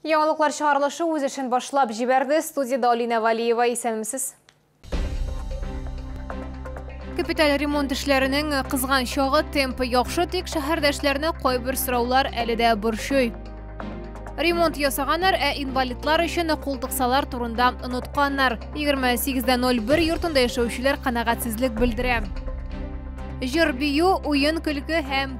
Яңалыклар чыгарылышы үз эшен башлап җибәрде. Студияда Алина Валиева исәнмесез. Капиталь ремонт эшләренең кызган чагы темпы яхшы, тик шәһәрдәшләрне кайбер сораулар әле дә борчый. Ремонт ясаганнар, ә инвалидлар өчен култыксалар турында онытканнар. 28.01 йортында яшәүчеләр канәгатьсезлек белдерә. Җыр бию, уен көлке һәм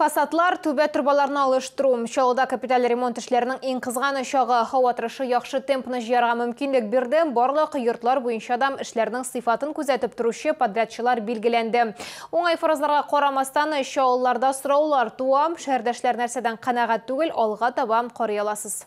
Фасадлар, түбә торбаларны алыштыру, Чаллыда капиталь ремонт эшләренең иң кызган очагы. Һава торышы яхшы темпны җыярга мөмкинлек бирде, барлык йортлар буенча да эшләрнең сыйфатын күзәтеп торучы подрядчылар билгеләнде. Уңай фаразларга карамастан, чаллыларда сораулар туа, шәһәрдәшләр нәрсәдән канәгать түгел, алга таба карый аласыз.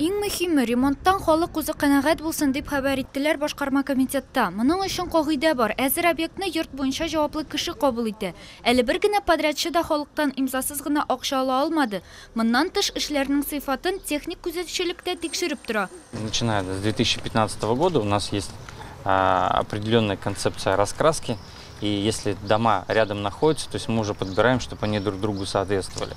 Иң мөһиме, ремонттан халык үзе канәгать булсын, дип хәбәр иттеләр башкарма комитетта. Моның өчен кагыйдә бар, әзер объектны йорт буенча җаваплы кеше кабул итә. Әле бер генә подрядчы да халыктан имзасыз гына акча ала алмады. Моннан тыш, эшләрнең сыйфатын техник күзәтүчелек тә тикшереп тора. Начиная с 2015 года у нас есть определенная концепция раскраски, и если дома рядом находятся, то есть мы уже подбираем, чтобы они друг другу соответствовали.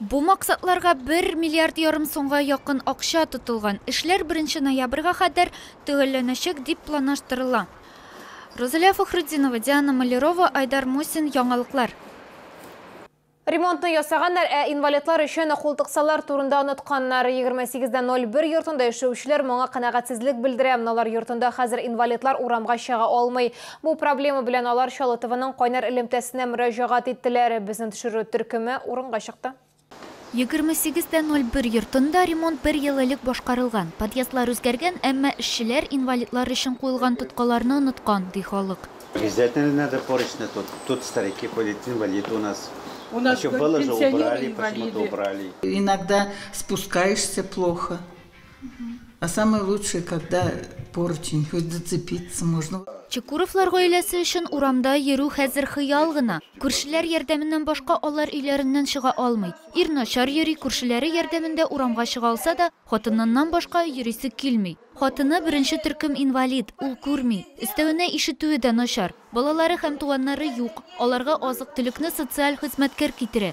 Бу максатларга бер миллиард ярым сумга якын акча тотылган. Эшләр беренче ноябрьгә кадәр төгәлләнәчәк дип планаштырыла. Рузалия Фәхретдинова, Диана Малярова, Айдар Мусин, Яңалыклар. Ремонтны ясаганнар, ә инвалидлар өчен култыксалар турында онытканнар. Егерме сигез дә ноль бер йортында яшәүчеләр моңа канәгатьсезлек белдерә. Алар йортында хәзер инвалидлар урамга чыга алмый. Бу проблема белән алар Чалытованың кайнар элемтәсенә мөрәҗәгать иттеләр. Безнең төшерү төркеме урынга чыкты. 28.01 йортында ремонт бер ел элек башкарылган. Подъездлар үзгәргән, әмма эшчеләр инвалидлар өчен куелган тоткаларны оныткан, ди халык. Обязательно надо поручни тут, тут старики ходят, инвалиды у нас. У нас пенсионеры инвалиды. Иногда спускаешься плохо. Чекуровлар гаиләсе өчен урамда йөрү хәзер хыял гына. Күршеләр ярдәменнән башка алар өйләреннән чыга алмый. Ир начар йөри, күршеләре ярдәмендә урамга чыга алса да, хатыныннан башка йөрисе килми. Хатыны, беренче төркем инвалид, ул күрми. Өстәвенә ишетүе дә начар. Балалары һәм туганнары юк. Аларга азык-төлекне социаль хезмәткәр китерә.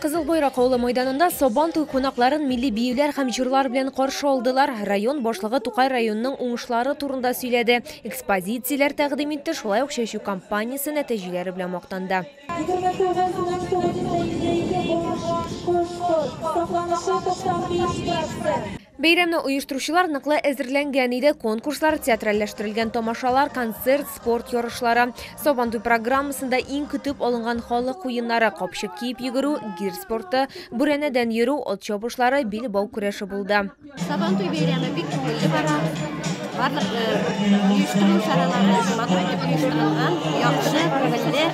Кызыл Бойрак авылы мәйданында Сабан туй кунакларын милли биюләр һәм җырлар белән каршы алдылар. Район башлыгы Тукай районының уңышлары турында сөйләде. Экспозицияләр тәкъдим итте, шулай ук чәчү кампаниясе нәтиҗәләре белән мактанды. Бәйрәмне оештыручылар ныклы әзерләнгән иде. Конкурслар, театральләштерелгән тамашалар, концерт, спорт ярышлары, Сабантуй программасында иң көтеп алынган халык уеннары, капчык киеп йөгерү, гир спорты, бүрәнәдән йөрү, ат чабышлары, билбау көрәше булды. Сабантуй бәйрәме бик күңелле бара. Барлык оештыру чаралары матур итеп оештырылган, яхшы, күңелле,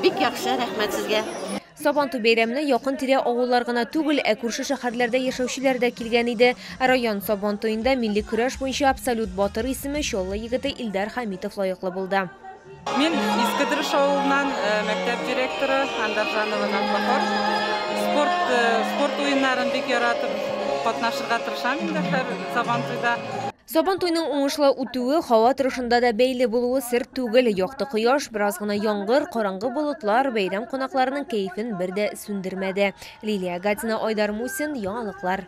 бик яхшы, рәхмәт сезгә. Сабантуй бәйрәменә якын-тирә авыллар гына түгел, ә күрше шәһәрләрдә яшәүчеләр дә килгән иде. Район Сабантуенда милли көрәш буенча абсолют батыр исеме Чаллы егете Илдар Хәмитов лаеклы булды. Мин Иске Дөреш авылыннан э, мәктәп директоры Андаржанова Нафахор. Спорт, э, спорт уеннарын бик яратып катнашырга тырышам инде һәр Сабантуйда. Сабантуйның уңышлы үтүе һава торышында да бәйле булуы сер түгел. Якты кояш, бераз гына яңгыр, караңгы болытлар бәйрәм кунакларының кәефен бер дә сүндермәде. Лилия Гатина, Айдар Мусин, Яңалыклар.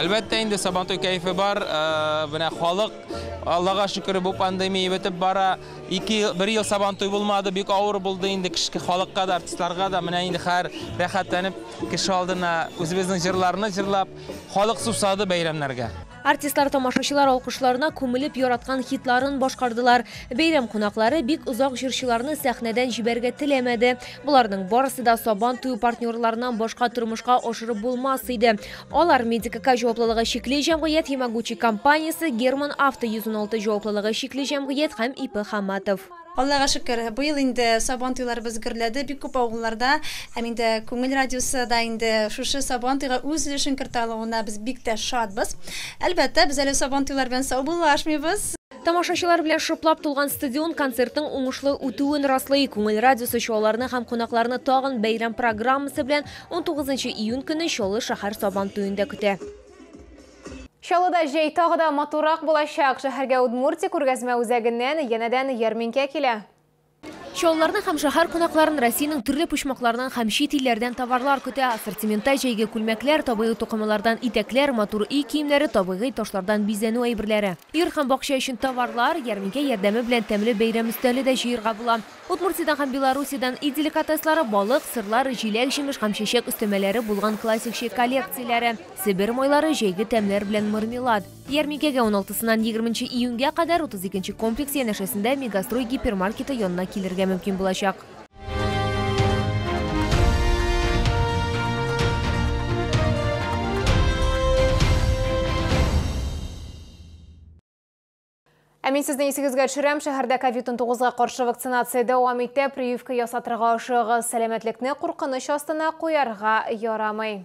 Әлбәттә инде Сабантуй кәефе бар. Менә халык Аллага шөкер бу пандемия бетеп бара. Ике бер ел Сабантуй булмады, бик авыр булды инде кешке халыкка да, артистларга да. Менә инде хәзер рәхәтләнеп кеше алдына үзебезнең җырларны җырлап, халык сусады бәйрәмнәргә. Артистлар тамашачылар алкышларына күмелеп яраткан хитларын башкардылар. Бәйрәм кунаклары бик озак җырчыларны сәхнәдән җибәрергә теләмәде. Боларның барысы да сабан туе партнерларыннан башка тормышка ашырып булмас иде. Алар Медикака җаваплылыгы чикле җәмгыять Химагучи компаниясе, Герман Авто 116 җаваплылыгы чикле җәмгыять һәм ИП Хаматов. Аллага шөкер, быел инде Сабан туйларыбыз гөрләде бик күп авылларда. Һәм инде Күңел радиосы да инде шушы Сабан туйга үз өлешен кертә алуына без бик тә шатбыз. Әлбәттә, без әле Сабан туйлар белән саубуллашмыйбыз. Тамашачылар белән шыплап тулган стадион концертның уңышлы үтүен раслый. Күңел радиосы чуаларны һәм кунакларны тагын бәйрәм программасы белән 19 июнь көне Чаллы шәһәр Сабан туенда көтә. Чаллыда җәй тагы да матуррак булачак. Шәһәргә Удмуртия күргәзмә үзәгеннән янәдән ярминкә килә. Чаллыларны һәм шәһәр кунакларын Россиянең төрле почмакларыннан һәм чит илләрдән товарлар көтә. Ассортиментта җәйге күлмәкләр, табигый тукымалардан итәкләр, матур өй киемнәре, табигый ташлардан бизәнү әйберләре. Өер һәм бакча өчен товарлар, ярминкә ярдәме белән тәмле бәйрәм өстәле дә җыерга була. Удмуртиядән һәм Белоруссиядән өй деликатеслары, балык, сырлар, җиләк-җимеш һәм чәчәк өстәмәләре булган классик чәй коллекцияләре, себер майлары, җәйге тәмнәр белән мармелад. Ярминкәгә уналтысыннан егерменче июньгә кадәр 32 комплекс янәшәсендә Мегастрой гипермаркеты янына килергә мөмкин булачак. Ә мин сезне исегезгә төшерәм, шәһәрдә COVID-19 га каршы вакцинация дәвам итә. Прививка ясатырга ашыгыз, сәламәтлекне куркыныч астына куярга ярамый.